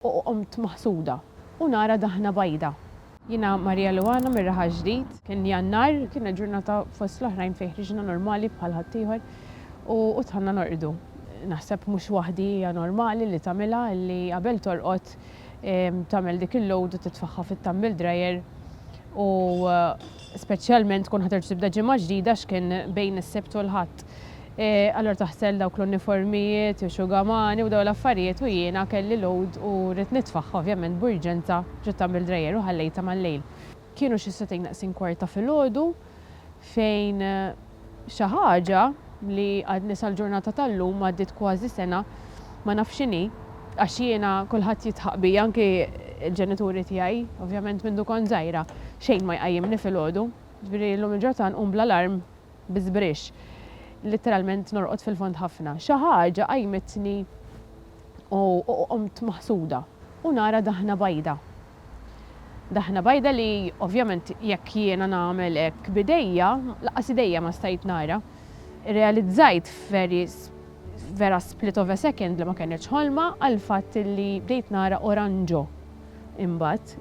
u qomt maħsuda u nara daħna bajda. Jiena Maria Luana mir-Raħal Ġdid. Kien Jannar, kienet ġurnata fost l-oħrajn fejn ħriġna normali bħal ħaddieħor u dħalna norqdu. Naħseb mhux waħdi hija normali li tagħmilha li qabel torqod tagħmel dik il-load u titfagħha fit-tumble dryer u Speċjalment tkun ħaterġ tibda ġimgħa ġdida x'kien bejn is-Sibt u l-Ħadd. Allura taħsel dawk l-uniformijiet, ix-xugamani u dawn l-affarijiet u jiena kelli load u ridt nitfagħha ovvjament b'urġenza ġiet tagħmel dreier u ħallejtha mal-lejl. Kienu xi sagħtejn naqsin kwarta filgħodu fejn. Xi ħaġa li għadni sal-ġurnata tal-lum, għaddiet kważi sena, ma nafx x'inhi, għax jiena kulħadd jidħaq bi, anki l-ġenituri tiegħi, ovvjament mindu kont żgħira, xejn ma jqajjimni filgħodu. Ġifieri llum il-ġurnata nqum bl-alarm bi żbrix. Litteralment norqod fil-fond ħafna. Xi ħaġa qajjmitni u qomtmaħsuda u nara daħna bajda. Daħna bajda li ovvjament jekk jiena nagħmel hekk b'idejja, lanqas idejja ma stajt nara. Irrealizzajt f'vera split of a second li ma kenitx ħolma għall-fatt li bdejt nara oranġo. Imbagħad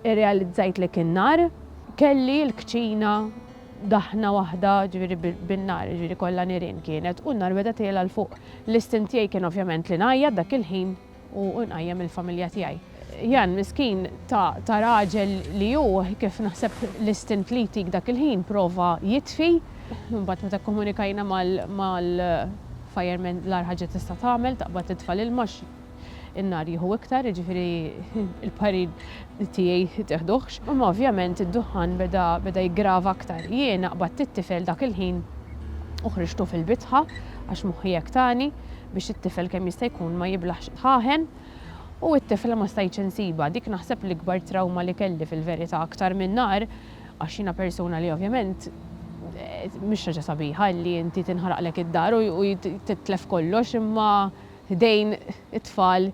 irrealizzajt li kien nhar, kelli l-kċina daħna waħda ġifieri bin-nar, ġifieri kollha nirien kienet u n-nar beda tgħela 'l fuq. L-istint tiegħi kien ovvjament li ngħajjat dak il-ħin. u nqajjem il-familja tiegħi. Jan, miskin ta' raġel li hu, kif naħseb l-istint li jtik dak il-ħin, prova jitfi. Imbagħad meta kkomunikajna mal-firemen l-agħar ħaġa tista' tagħmel taqbad titfa' l-ilma għax in-nar jieħu iktar, jiġifieri l-parir tiegħi teħduhx. Imma ovvjament id-duħħan beda jiggrava aktar. Jiena qbadt it-tifel dak il-ħin u ħriġtu fil-bitħa għax moħħi hekk tani. biex it-tifel kemm jista' jkun ma jiblaħx ħaħen u it-tifla ma stajtx insibha. Dik naħseb l-ikbar trawma li kelli fil-verità aktar minn nar għax jiena persuna li ovvjament mhix ħaġa sabiħa li inti tinħaraqlek id-dar u titlef kollox imma ħdejn it-tfal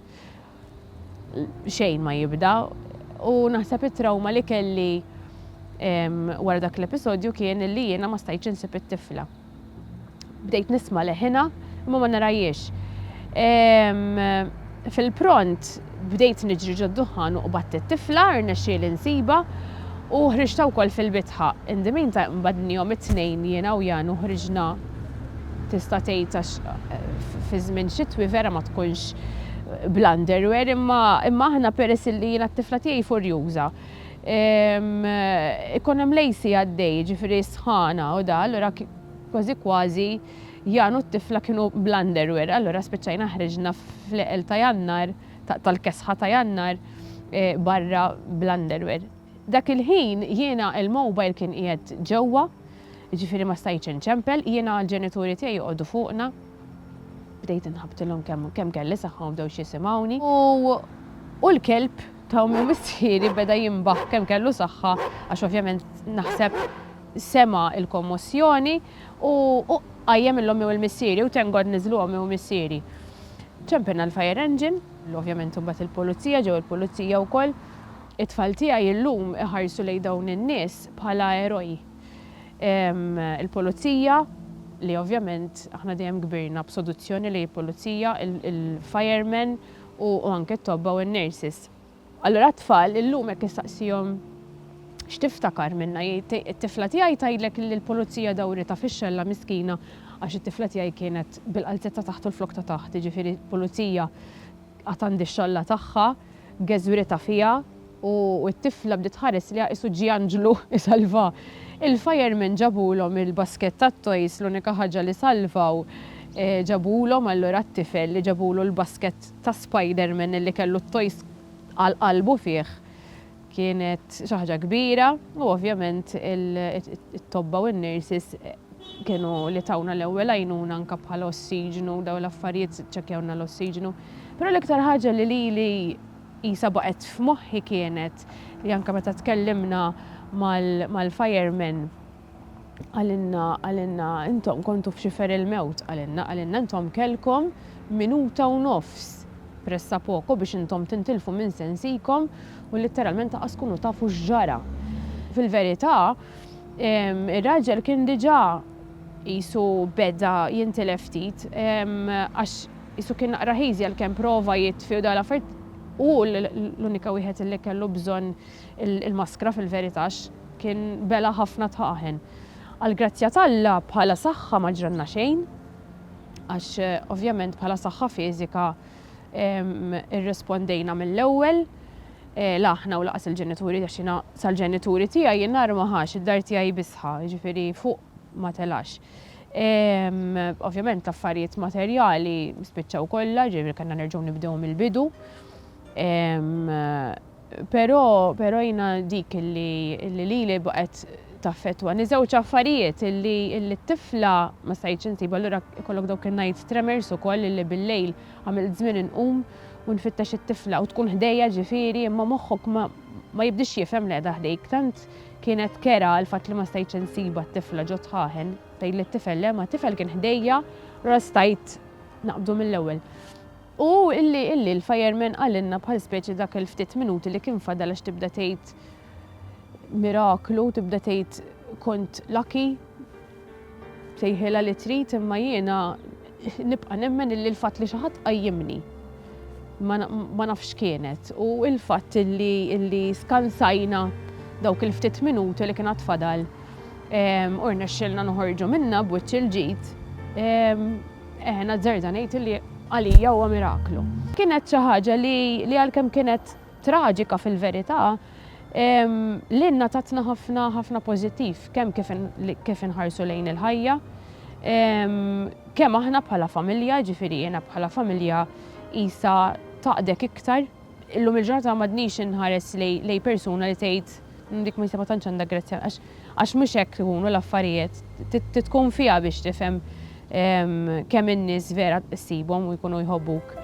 xejn ma jibda u naħseb it-trawma li kelli wara dak l-episodju kien li jiena ma stajtx insib it-tifla. Bdejt nisma' leħinha, imma ma narahiex. Fil-pront bdejt niġri ġod-duħħan u qbadt it-tifla, rnexxieli nsibha, u ħriġtha wkoll fil-bitħa. In the meantime qbadnihom it-tnejn jiena u Jan u ħriġna tista' tgħid għax fi żmien xitwi vera ma tkunx bl-underwear imma aħna peress illi jiena t-tifla tiegħi furjuża. Ikun hemm lejsi għaddej, jiġifieri sħana u da, allura kważi kważi Jan u t-tifla kienu bl-underwear. Allura spiċċajna ħriġna fl-għeqel ta' Jannar, tal-kesħa ta' Jannar, barra bl-underwear. Dak il-ħin jiena il-mobile kien qiegħed ġewwa, jiġifieri ma stajtx inċempel, jiena l-ġenituri tiegħi joqogħdu fuqna. Bdejt inħabbtilhom kemm kelli saħħa u bdew x'jisimgħuni. U l-kelb Ta' ommi u missieri beda jinbaħ kemm kellu saħħa għax ovvjament naħseb sema' il-kommossjoni u qajjem il-ommi u l-missieri u thank God niżlu ommi u missieri. Ċempilna l-fire engine, li ovvjament imbagħad il-pulizija, ġew il-pulizija wkoll. It-tfal tiegħi illum iħarsu lejn dawn in-nies bħala eroj. Il-pulizija, li ovvjament aħna dejjem kbirna b'soduzzjoni lejn il-pulizija, il-firemen, u anke t-tobba u n-nurses. Allura t-tfal illum jekk issaqsihom x'tiftakar minnha jgħid it-tifla tiegħi tgħidlek li l-pulizija dawritha fix-xella miskina għax it-tifla tiegħi kienet bil-qalziet ta' taħt u l-flokk ta' taħt, jiġifieri pulizija għad għandha x-xalla tagħha, geżwritha fiha. u t-tifla bdiet tħares lejha qisu ġie anġlu jsalvha. Il-firemen ġabulhom il-basket tat-toys l-unika ħaġa li salvaw ġabulhom allura t-tifel li ġabulu l-basket ta' Spiderman li kellu t-toys għal qalbu fih kienet xi ħaġa kbira u ovvjament it-tobba u n-nurses kienu li tawna l-ewwel għajnuna anke bħala ossiġnu dawn l-affarijiet ċċekkjawlna l-ossiġnu. Però l-iktar ħaġa li lili qisha baqgħet f'moħħi kienet li anke meta tkellimna mal-firemen qalilna qalilna intom kontu f'xifer il-mewt qalilna qalilna intom kellkom minuta u nofs pressa poco biex intom tintilfu minn sensikom u litteralment laqas tkunu tafu x'ġara. Fil-verità ir-raġel kien diġà qisu beda jintilef ftit għax qisu kien naqra heasy għalkemm prova jitfi u dawn l-affarijiet u hu l-unika wieħed illi kellu bżonn il-maskra fil-verità għax kien bela' ħafna tħaħen. Għall-grazzja t'Alla bħala saħħa ma ġralna xejn għax ovvjament bħala saħħa fiżika irrispondejna mill-ewwel la aħna u lanqas il-ġenituri għax jiena sal-ġenituri tiegħi n-nar ma ħax, id-dar tiegħi bisħa, jiġifieri fuq ma telax. Ovvjament l-affarijiet materjali spiċċaw kollha, ġifieri kellna nerġgħu nibdew mill-bidu. Però però jiena dik li lili baqgħet taffettwani żewġ affarijiet illi t-tifla ma stajtx insib allura ikollok dawk in-night tremors ukoll illi bil-lejl għamilt żmien inqum u nfittex it-tifla u tkun ħdejja ġifieri imma moħħok ma jibdiex jifhem li qiegħda ħdejk tant Kienet kerha l-fatt li ma stajtx insibha t-tifla ġo tħaħen. Tgħid lit-tifel, le ma t-tifel kien ħdejja, allura stajt naqbdu mill-ewwel. U illi, illi l-fireman qalilna bħal speċi dak il-ftit minuti li kien fadal għax tibda tgħid miraklu, tibda tgħid kont lucky. Sejħilha li trid imma jiena nibqa' nemmen illi l-fatt li xi ħadd qajjimni ma nafx x'kienet u l-fatt illi illi skansajna dawk il-ftit minuti li kien għad fadal ehm, u rnexxielna noħorġu minnha b'wiċċ il-ġid ehm, eh nazzerda ngħid illi għalija huwa miraklu. Kienet xi ħaġa li għalkemm kienet traġika fil-verità, lilna tatna ħafna ħafna pożittiv, kemm kif inħarsu lejn il-ħajja, kemm aħna bħala familja, ġifieri jiena bħala familja qisha taqdek iktar. Illum il-ġurnata m'għadnix inħares lejn persuna li tgħid dik ma tantx għandha grazzja. Għax mhux hekk ikunu l-affarijiet. Trid tkun fiha biex tifhem kemm in-nies vera ssibhom u jkunu jħobbuk.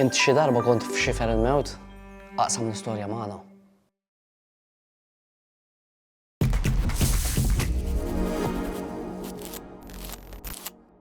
Int xi darba kont f'xifer il-mewt? Aqsam l-istorja magħna.